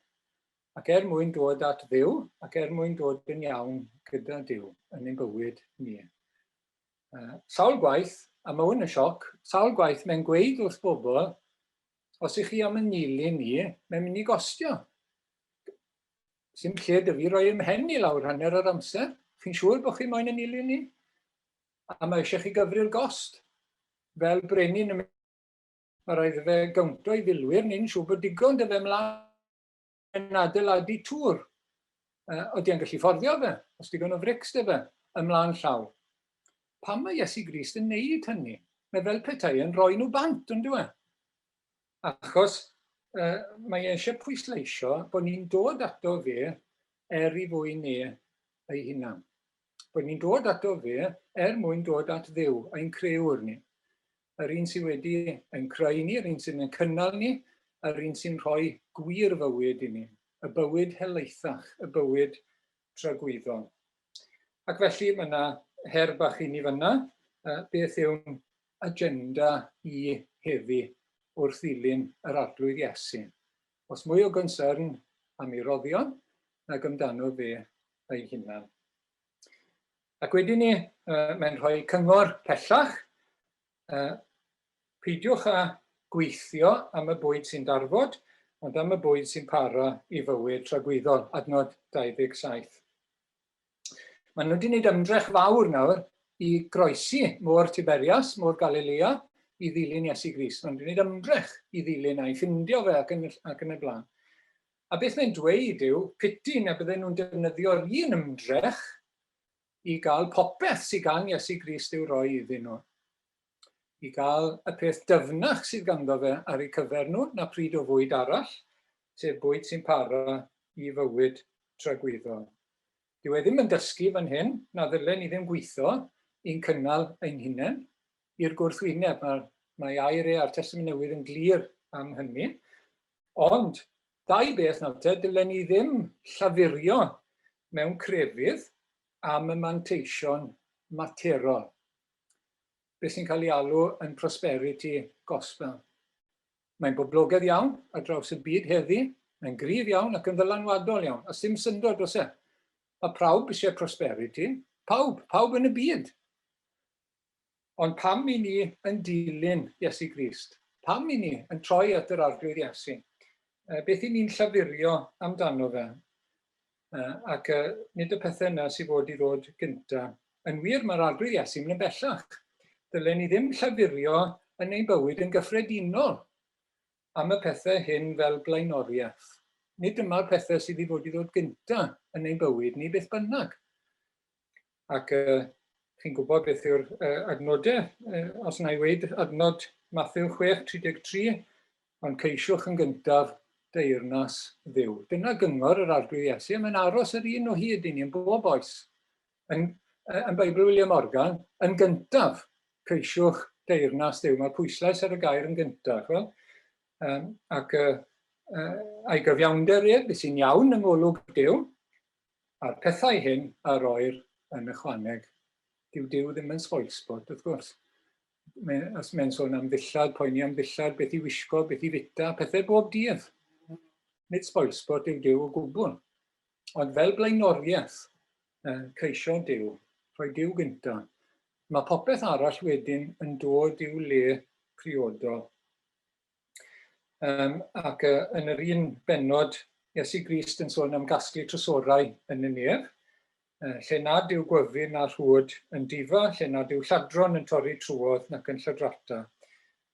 ac er mwyn dod at ddiw, ac er mwyn dod yn iawn gyda diw yn ein bywyd ni. Uh, sawl gwaith, a mae hwn yn sioc, sawl gwaith mae'n gweud wrth bobl, os ych chi am yn nilyn ni, mae'n mynd i gostio. Sy'n lle dy fi roi ymhen i lawr hanner yr amser, chi'n siŵr bod chi moyn yn nilyn ni? A mae eisiau chi gyfri'r gost. Fel brenin y mae rhaid i fe gawntio i filwyr ni'n siŵr bod digon dy fe mlaen yn adeiladu tŵr. Uh, oeddi yn gallu fforddio fe, os digon o frics dy fe, ymlaen llaw. Pam mae Iesu Grist yn neud hynny? Mae fel petai yn rhoi nhw bant, yn dweud. Achos uh, mae e eisiau pwysleisio bod ni'n dod ato fe er i fwy ni ei hunan. bod ni'n dod ato fe er mwyn dod at ddew, ein creuwr ni. Yr un sydd wedi ein creu ni, yr un sydd yn cynnal ni, yr un sy'n rhoi gwir fywyd i ni, y bywyd helaethach, y bywyd tragwyddol. Ac felly mae yna her bach i ni fyna, beth yw'n agenda i heddi wrth ddilyn yr arglwydd Iesu. Oes mwy o gonsyrn am ei roddion nag amdano fe ei hunan. Ac wedyn ni, mae'n rhoi cyngor pellach, peidiwch â gweithio am y bwyd sy'n darfod, ond am y bwyd sy'n para i fywyd tragwyddol, adnod 27. Maen nhw wedi gwneud ymdrech fawr nawr i groesi Môr Tiberias, Môr Galilea, i ddilyn Iesu Grist. Maen nhw wedi gwneud ymdrech i ddilyn a'i ffindio fe ac yn, ac yn y blaen. A beth mae'n dweud yw, piti na bydden nhw'n defnyddio'r un ymdrech i gael popeth sydd gan Iesu Grist i'w roi iddyn nhw. i gael y peth dyfnach sydd ganddo fe ar eu cyfer nhw na phryd o fwyd arall, sef bwyd sy'n para i fywyd tragwyddol. Dyw e ddim yn dysgu fan hyn na ddylen ni ddim gweithio i'n cynnal ein hunain i'r gwrthwyneb. Mae, mae air e a'r Testament Newydd yn glir am hynny. Ond, dau beth nawr te, dylen ni ddim llafurio mewn crefydd am y manteision materol. beth sy'n cael ei alw yn prosperity gospel. Mae'n boblogaidd iawn ar draws y byd heddi, mae'n gryf iawn ac yn ddylanwadol iawn, a sim syndod dros e. Mae prawb eisiau prosperity, pawb, pawb yn y byd. Ond pam i ni yn dilyn Iesu Grist? Pam i ni yn troi at yr arglwydd Iesu? Beth i ni'n llafurio amdano fe? Uh, ac uh, nid y pethau yna sydd fod i ddod gynta. Yn wir, mae'r arglwydd Iesu mynd yn bellach. Dylen ni ddim llafurio yn ein bywyd yn gyffredinol am y pethau hyn fel blaenoriaeth. Nid dyma'r pethau sydd i fod i ddod gynta yn ein bywyd ni beth bynnag. Ac chi'n gwybod beth yw'r adnodau, os na i weud adnod Mathew 6:33, ond ceisiwch yn gyntaf deyrnas Dduw. Dyna gyngor yr Arglwydd Iesu, a mae'n aros yr un o hyd i ni yn bob oes. Yn, yn Beibl William Morgan, yn gyntaf, ceisiwch deyrnas Dduw. Mae pwyslais ar y gair yn gyntaf. Wel, um, ac uh, uh, a'i gyfiawnder ef, sy'n iawn yng ngolwg Duw, A'r pethau hyn a roir yn ychwaneg, dyw Duw ddim yn spoilsport, wrth gwrs. Mae, os mae'n sôn am ddillad, poeni am ddillad, beth i wisgo, beth i fita, pethau bob dydd. Nid spoilsport yw Duw o gwbl. Ond fel blaenoriaeth, ceisio Duw, rhoi Duw gynta. Mae popeth arall wedyn yn dod i'w le priodol. Um, ac uh, yn yr un benod, Iesu Grist yn sôn am gasglu trysorau yn y nef, uh, lle nad yw gwyfyn na rhwyd yn difa, lle nad yw lladron yn torri trwodd nac yn lladrata.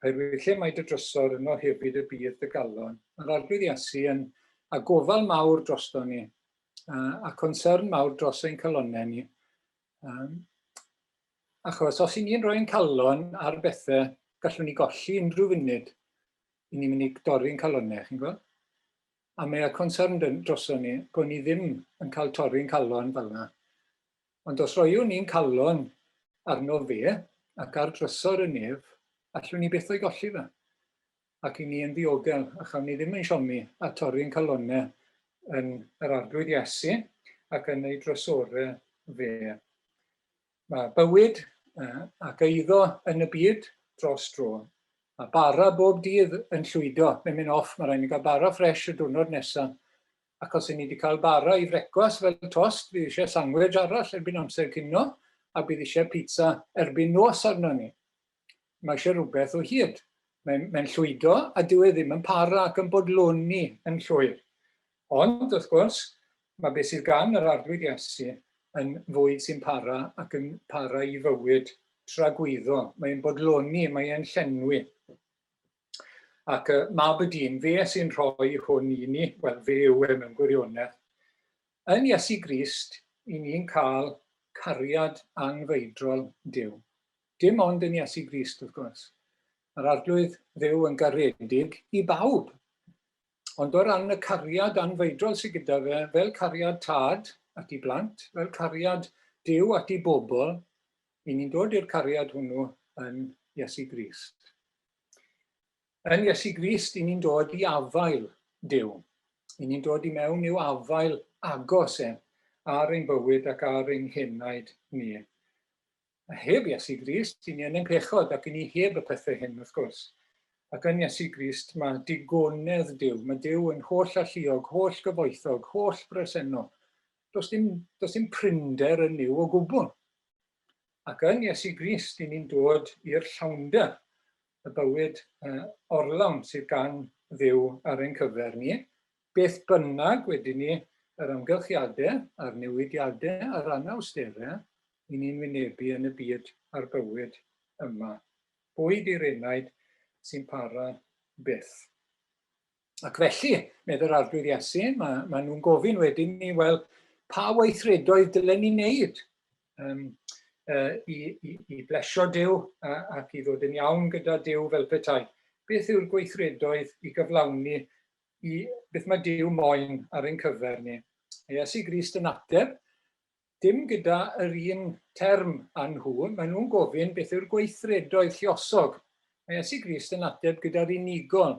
Oherwydd lle mae dy drysor yno hefyd y bydd dy galon. Mae'r arglwydd Iesu yn a gofal mawr drosto ni, uh, a concern mawr dros ein calonau ni, Um, achos os i ni'n rhoi'n calon ar bethau, gallwn ni golli unrhyw funud i ni'n mynd i dorri'n calonau, chi'n gwybod? A mae y concern droson ni, bod ni ddim yn cael torri'n calon fel yna. Ond os roiwn ni'n calon arno fe ac ar drysor y nef, allwn ni beth o'i golli fe. ac i ni yn ddiogel, a chawn ni ddim ein siomi a torri ein calonnau yn yr Arglwydd Iesu ac yn ei drysore fe. Mae bywyd ac eiddo yn y byd dros dro, a bara bob dydd yn llwydo, mae'n mynd off, mae rhaid ni gael bara ffresh y diwrnod nesaf, ac os i ni wedi cael bara i frecwast fel tost, bydd eisiau sangwedge arall erbyn amser cino, a bydd eisiau pizza erbyn nos arno ni. Mae eisiau rhywbeth o hyd. Mae'n, mae'n llwydo a dyw e ddim yn para ac yn bodloni yn llwyr. Ond, wrth gwrs, mae beth sydd gan yr Arglwydd Iesu yn fwyd sy'n para ac yn para i fywyd tragwyddo. Mae'n bodloni, mae'n llenwi. Ac y mab y dyn, fe sy'n rhoi hwn i ni, wel, fe yw e mewn gwirionedd. Yn Iesu Grist, i ni'n cael cariad anghreidrol Duw. Dim ond yn Iesu Grist, wrth gwrs. Mae'r Arglwydd Dduw yn garedig i bawb. Ond o ran y cariad anfeidrol sydd gyda fe, fel cariad tad at i blant, fel cariad Duw at i bobl, i ni'n dod i'r cariad hwnnw yn Iesu Grist. Yn Iesu Grist, i ni'n dod i afael Duw. I ni'n dod i mewn i'w afael agos e, ar ein bywyd ac ar ein henaid ni. A heb Iesu Grist, i ni yn ein pechod ac i ni heb y pethau hyn, wrth gwrs. Ac yn Iesu Grist, mae digonedd Duw, mae Duw yn holl alluog, holl gyfoethog, holl bresennol. Does dim, does dim prinder yn Nuw o gwbl. Ac yn Iesu Grist i ni'n dod i'r llawnder, y bywyd orlawn sydd gan Dduw ar ein cyfer ni, beth bynnag wedyn ni yr amgylchiadau a'r newidiadau a'r anawsterau i ni'n wynebu yn y byd a'r bywyd yma. Bwyd i'r enaid sy'n para byth. Ac felly, medd yr Arglwydd Iesu, mae, mae nhw'n gofyn wedyn ni, wel, pa weithredoedd dylen ni wneud um, uh, i, i, i blesio Dyw uh, ac i ddod yn iawn gyda Dyw fel petai? Beth yw'r gweithredoedd i gyflawni i beth mae Dyw moyn ar ein cyfer ni? Iesu Grist yn ateb, Dim gyda yr un term â nhw, maen nhw'n gofyn beth yw'r gweithredoedd lluosog. Mae Iesu Grist yn ateb gyda'r unigol,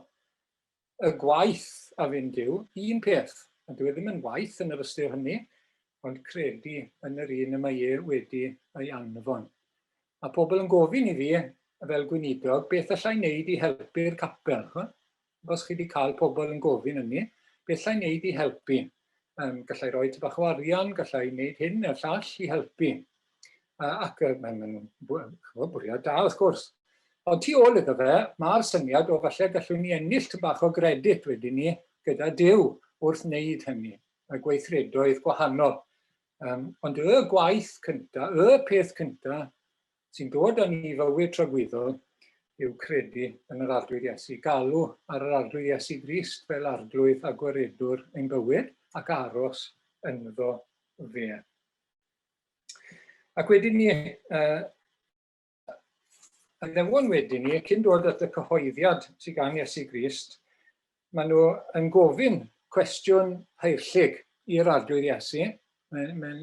y gwaith a fynd yw un peth, a dyw e ddim yn waith yn yr ystyr hynny, ond credu yn yr un y mae e wedi ei anfon. Mae pobl yn gofyn i fi, fel gweinidog, beth allai wneud i helpu'r capel. Os chi 'di cael pobl yn gofyn ynni, be allai wneud i helpu? Yym, gallai roi tipyn bach o arian, gallai wneud hyn neu'r llall i helpu. Uh, ac uh, mae'n nhw'n bwriad da, wrth gwrs. Ond tu ôl iddo fe, mae'r syniad o falle gallwn ni ennill tyn bach o gredit wedyn ni gyda Dyw wrth wneud hynny, y gweithredoedd gwahanol. Um, ond y gwaith cyntaf, y peth cyntaf, sy'n dod â ni i fywyd tragwyddol yw credu yn yr Arglwydd Iesu, galw ar yr Arglwydd Iesu Grist fel Arglwydd a Gwaredwr ein bywyd ac aros ynddo fe. Ac wedyn ni, uh, a newon wedyn ni, cyn dod at y cyhoeddiad sy'n gan Iesu Grist, maen nhw yn gofyn cwestiwn heirllyg i'r Arglwydd Iesu. Mae'n mae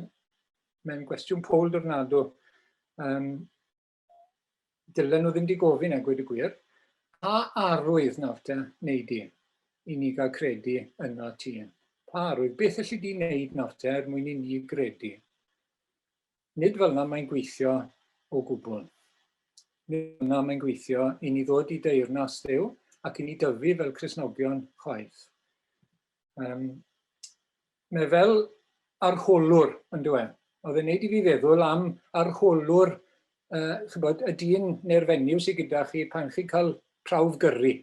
Mae'n gwestiwn poll dornado. Um, dylen nhw ddim di gofyn a gweud y gwir. Pa arwydd nawr te wneud di i ni gael credu yna ti? Pa arwydd? Beth yllu di wneud nawr te er mwyn i ni gredu? Nid fel yna mae'n gweithio o gwbl. Nid fel yna mae'n gweithio i ni ddod i deyrnas ddew ac i ni dyfu fel Cresnogion chwaith. Um, Mae fel arholwr, yn dyw e. Oedd e'n neud i fi feddwl am arholwr, uh, chybod, y dyn neu'r fenyw sydd gyda chi pan chi'n cael prawf gyrru,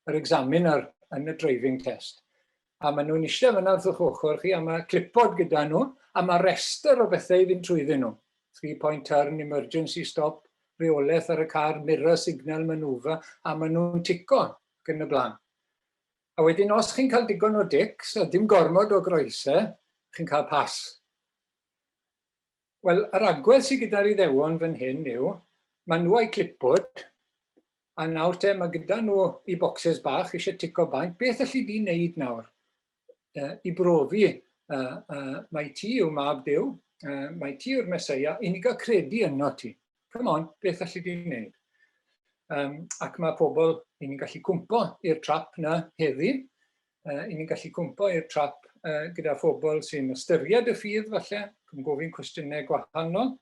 yr examiner yn y driving test. A maen nhw'n eisiau fyna wrth o'ch ochr chi, a mae clipod gyda nhw, a mae rester o bethau i fynd trwyddyn nhw. Three-point turn, emergency stop, reolaeth ar y car, mirror signal, manufa, a maen nhw'n tico, ac yn y blaen. A wedyn os chi'n cael digon o dics a dim gormod o groesau, chi'n cael pas. Wel, yr agwedd sydd gyda'r Iddewon fan hyn yw, maen nhw a'u clipboard, a nawr te, mae gyda nhw i bocsys bach eisiau tico bant, beth alli di wneud nawr uh, i brofi uh, uh, mae ti yw mab Dyw, uh, mae ti yw'r Mesoea, i ni gael credu yno ti. come on, beth allu di wneud? Um, ac mae pobl, i ni'n gallu cwmpo i'r trap na heddi, uh, i ni'n gallu cwmpo i'r trap uh, gyda phobl sy'n ystyried y ffydd falle, yn gofyn cwestiynau gwahanol.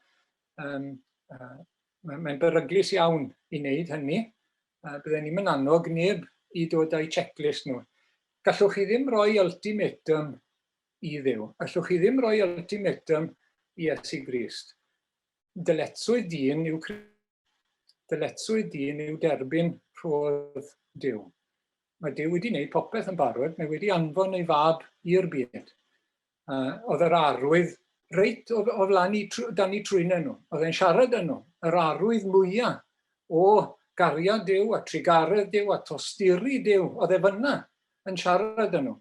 Um, uh, Mae'n mae beryglus iawn i wneud hynny. Uh, Byddai'n ni'n mynd annog neb i dod â'i checklist nhw. Gallwch chi ddim rhoi ultimatum i ddew. Allwch chi ddim rhoi ultimatum i Iesu Grist. Dyletswydd dyn yw dyletswydd dyn yw derbyn rhodd Duw. Mae Duw wedi gwneud popeth yn barod, mae wedi anfon ei fab i'r byd. Uh, oedd yr arwydd reit o, o flan i, dan i trwyna nhw. Oedd e'n siarad â nhw, yr arwydd mwyaf o gariad Duw a trigaredd Duw a tosturi Duw, oedd e fyna yn siarad â nhw.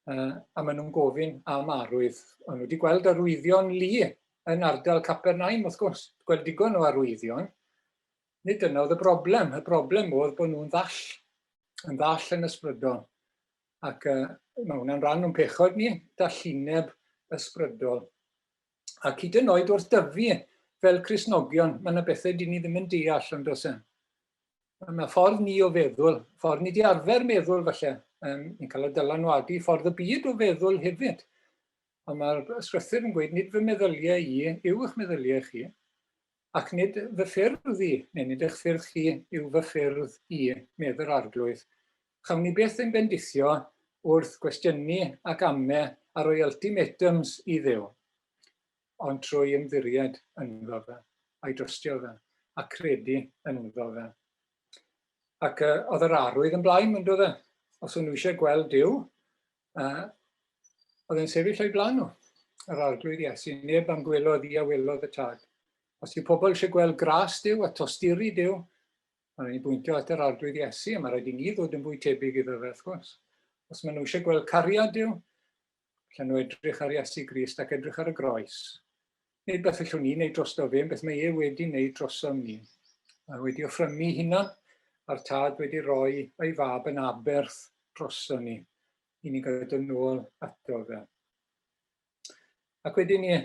Uh, a maen nhw'n gofyn am arwydd. Ond wedi gweld arwyddion lu yn ardal Capernaum, wrth gwrs, gweld digon o arwyddion. Nid dyna oedd y broblem. Y broblem oedd bod nhw'n ddall, yn ddall yn ysbrydol. Ac uh, mae hwnna'n rhan o'n pechod ni, dallineb ysbrydol. Ac hyd yn oed wrth dyfu fel Cresnogion, mae yna bethau dyn ni ddim yn deall ond os e. Mae yna ffordd ni o feddwl, ffordd ni di arfer meddwl falle, um, ni'n cael y dylanwadu ffordd y byd o feddwl hefyd. A mae'r ysgrythyr yn gweud, nid fy meddyliau i yw eich meddyliau chi, ac nid fy ffyrdd i, neu nid eich ffyrdd chi yw fy ffyrdd i, medd yr arglwydd. Chawn ni beth ein bendithio wrth gwestiynu ac amme ar o'i ultimatums i ddew. ond trwy ymddiried ynddo fe, a'i drystio fe, a credu ynddo fe. Ac uh, oedd yr arwydd yn blaen, mynd oedd e. Os o'n nhw eisiau gweld Dyw, uh, oedd e'n sefyll o'i blaen nhw, yr arglwydd Iesu. Neb am gwelodd i a welodd y tad. Os yw pobl eisiau gweld gras Dyw a tosturi Dyw, mae'n rhaid i bwyntio at yr arglwydd Iesu, a mae'n rhaid i ni ddod yn fwy tebyg iddo fe, wrth gwrs. Os maen nhw eisiau gweld cariad Dyw, Allan nhw edrych ar Iesu Grist ac edrych ar y groes. Nid beth allwn ni wneud drosto fe, yn beth mae e wedi wneud drosom ni. Mae wedi offrymu hunan a'r tad wedi rhoi ei fab yn aberth droson ni i ni gael dod nôl ato fe. Ac wedyn ni,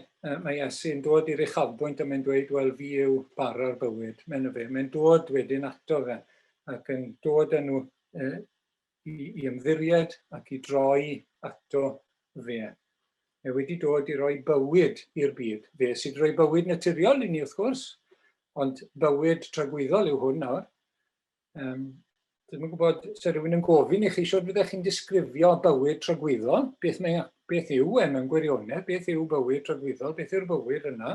mae Iesu yn dod i'r uchafbwynt a mae'n dweud, wel, fi yw bara'r bywyd, mae'n fe. Mae'n dod wedyn ato fe ac yn dod â nhw e, i, i ymddiried ac i droi ato fe. Mae wedi dod i roi bywyd i'r byd. Fe sydd wedi roi bywyd naturiol i ni wrth gwrs, ond bywyd tragwyddol yw hwn nawr. Um, Dwi'n yn gwybod, se rhywun yn gofyn i chi, siwr byddech chi'n disgrifio bywyd tragwyddol, beth, mae, beth yw e mewn gwirionedd, beth yw bywyd tragwyddol, beth yw'r bywyd yna.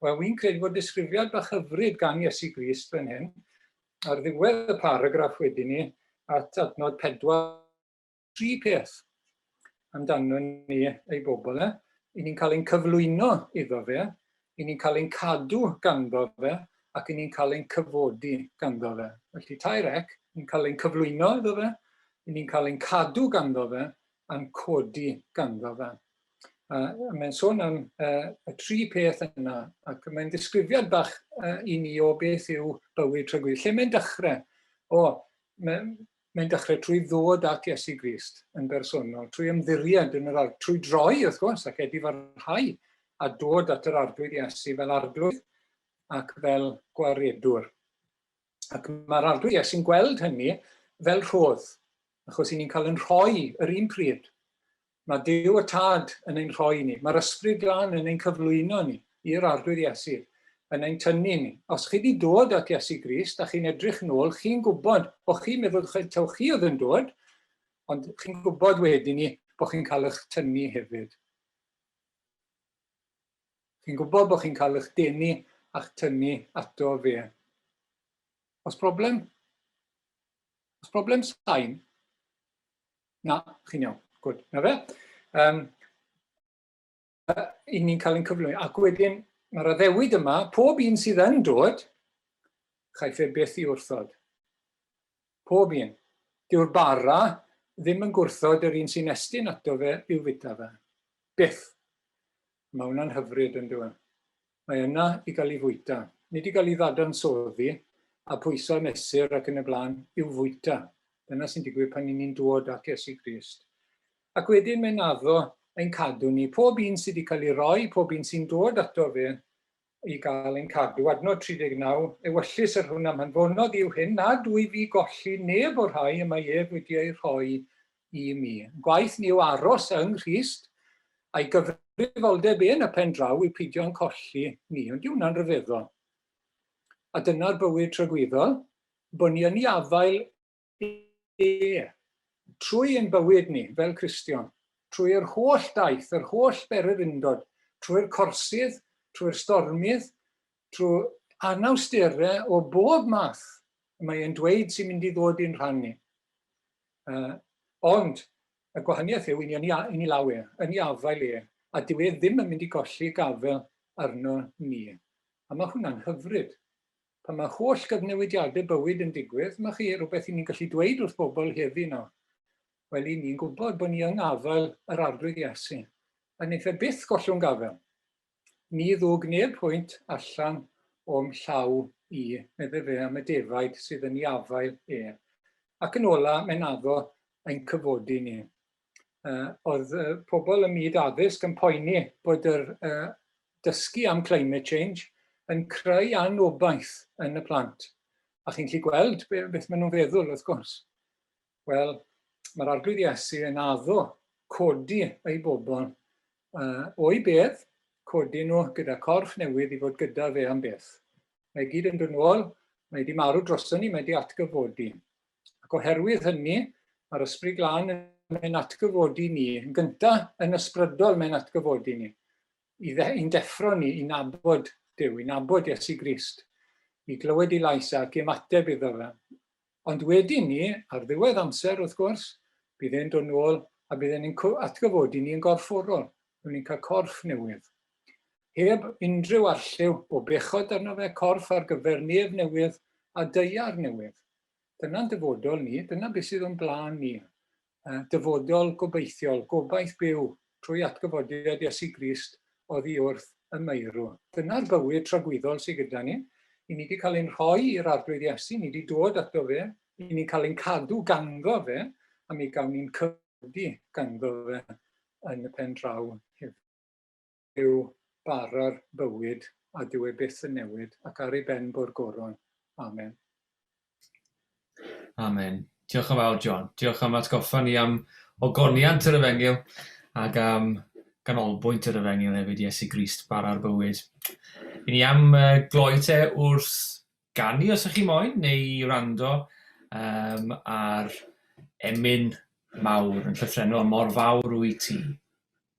Wel, wy'n credu bod disgrifiad bach hyfryd gan Iesu Grist fan hyn, ar ddiwedd y paragraff wedyn ni at adnod pedwar tri peth amdano ni ei bobl e, i ni'n cael ein cyflwyno iddo fe, i ni'n cael ein cadw ganddo fe, ac i ni'n cael ein cyfodi ganddo fe. Felly tair ec, ni'n cael ein cyflwyno iddo fe, i ni'n cael ein cadw ganddo fe, a'n codi ganddo fe. A mae'n sôn am uh, y tri peth yna, ac mae'n disgrifiad bach uh, i ni o beth yw bywyd trygwydd. Lle mae'n dechrau? O, mae'n mae dechrau trwy ddod at Iesu Grist yn bersonol, trwy ymddiried yn yr arglwydd, trwy droi, wrth gwrs, ac edif ar rhai, a dod at yr arglwydd Iesu fel arglwydd ac fel gwaredwr. Ac mae'r arglwydd Iesu'n gweld hynny fel rhodd, achos i ni'n cael yn rhoi yr un pryd Mae Duw y Tad yn ein rhoi ni. Mae'r Ysbryd Glân yn ein cyflwyno ni i'r Arglwydd Iesu, yn ein tynnu ni. Os chi wedi dod at Iesu Grist a chi'n edrych nôl, chi'n gwybod bod chi'n meddwl taw chi oedd yn dod, ond chi'n gwybod wedyn ni bod chi'n cael eich tynnu hefyd. Chi'n gwybod bod chi'n cael eich denu a'ch tynnu ato fe. Os broblem? Os broblem sain? Na, chi'n iawn. Gwyd. Na fe. Um, I ni'n cael ein cyflwyno. Ac wedyn, mae'r addewid yma, pob un sydd yn dod, chaiff e beth i wrthod. Pob un. Dyw'r bara ddim yn gwrthod yr un sy'n estyn ato fe i'w fita fe. Byth. Mae hwnna'n hyfryd, yn dyw e. Mae yna i gael ei fwyta. Nid i gael ei ddadansoddi a pwyso a mesur ac yn y blaen, i'w fwyta. Dyna sy'n digwydd pan i ni'n dod at Iesu Grist. Ac wedyn mae'n addo ein cadw ni. Pob un sydd wedi cael ei roi, pob un sy'n dod ato fe, i gael ein cadw. Adnod 39, Ewyllys yr hwn am hanfonodd yw hyn, nad wyf i golli neb o'r rhai y mae ef wedi eu rhoi i mi. Gwaith ni yw aros yng Nghrist, a'i gyfrifoldeb yn y pen draw yw peidio yn colli ni. Ond yw hwnna'n rhyfeddol? A dyna'r bywyd tragwyddol, bod ni yn ei afael Ie. Trwy ein bywyd ni, fel Cristion, trwy yr holl daith, yr holl bererindod, trwy'r corsydd, trwy'r stormydd, trwy anawsterau o bob math y mae e'n dweud sy'n mynd i ddod i'n rhan ni. Uh, ond y gwahaniaeth yw, i ni yn yn ei law e, yn ei afael e, a dyw e ddim yn mynd i golli gafel arno ni. A mae hwnna'n hyfryd. Pan mae holl gyfnewidiadau bywyd yn digwydd, mae chi, rhywbeth i ni'n gallu dweud wrth bobl heddi nawr, wel i ni'n gwybod bod ni yng afael yr Arglwydd Iesu, a wneith e byth gollwng gafael. Ni ddwg neb hwynt allan o'm llaw i, medde fe am y defaid sydd yn ei afael e. Ac yn ola, mae'n addo ein cyfodi ni. uh, oedd uh, pobl ym myd addysg yn poeni bod yr uh, dysgu am climate change yn creu anobaith yn y plant. A chi'n gallu gweld beth maen nhw'n feddwl, wrth gwrs. Wel, mae'r arglwydd Iesu yn addo codi ei bobl uh, o'i bedd, codi nhw gyda corff newydd i fod gyda fe am beth. Mae gyd yn dod nôl, mae wedi marw droson ni, mae wedi atgyfodi. Ac oherwydd hynny, mae'r Ysbryd Glân yn ein atgyfodi ni, yn gyntaf yn ysbrydol mae'n atgyfodi ni, i dde, i'n deffro ni i nabod Duw, i nabod Iesu Grist, i glywed ei lais e ac i ymateb iddo fe. Ond wedyn ni, ar ddiwedd amser wrth gwrs, bydd e'n dod nôl a bydd e'n atgyfodi ni yn gorfforol, rwy'n ni'n cael corff newydd. Heb unrhyw arlliw o bechod arno fe, corff ar gyfer nef newydd a deiar newydd. Dyna'n dyfodol ni, dyna beth sydd o'n blaen ni. Dyfodol gobeithiol, gobaith byw trwy atgyfodiad Iesu Grist oddi wrth y meirw. Dyna'r bywyd tragwyddol sydd gyda ni. I ni wedi cael ein rhoi i'r Arglwydd Iesu, ni wedi dod ato fe, i ni'n cael ein cadw ganddo fe, a mi gawn ni'n cyfodi ganddo fe yn y pen draw hefyd. yw bara'r bywyd a dyw e byth yn newid ac ar ei ben bo'r goron. Amen. Amen. Diolch yn fawr, John. Diolch am atgoffa ni am ogoniant yr efengyl ac am ganolbwynt yr efengyl hefyd, Iesu Grist, bara'r bywyd. I ni am gloi te wrth ganu os ych chi moyn, neu i rando um, ar emyn mawr yn llythrenol, mor fawr wyt ti.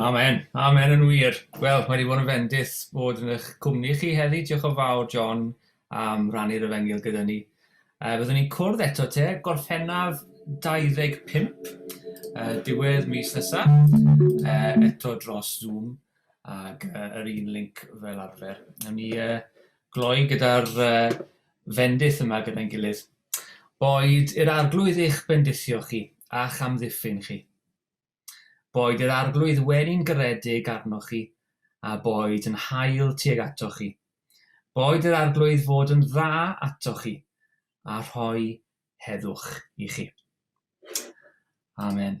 Amen. Amen yn wir. Wel, mae wedi bod yn fendith bod yn eich cwmni chi heddi. Diolch yn fawr, John, am rannu'r efengil gyda ni. Uh, byddwn ni'n cwrdd eto te, gorffennaf 25, uh, diwedd mis nesa, uh, eto dros Zoom, ac uh, yr un link fel arfer. Nawn ni uh, gloi gyda'r uh, fendith yma gyda'n gilydd. Boed i'r Arglwydd eich bendithio chi, a'ch amddiffyn chi. Boed i'r Arglwydd wenu'n garedig arnoch chi, a boed yn hael tuag atoch chi. Boed i'r Arglwydd fod yn dda atoch chi, a rhoi heddwch i chi. Amen.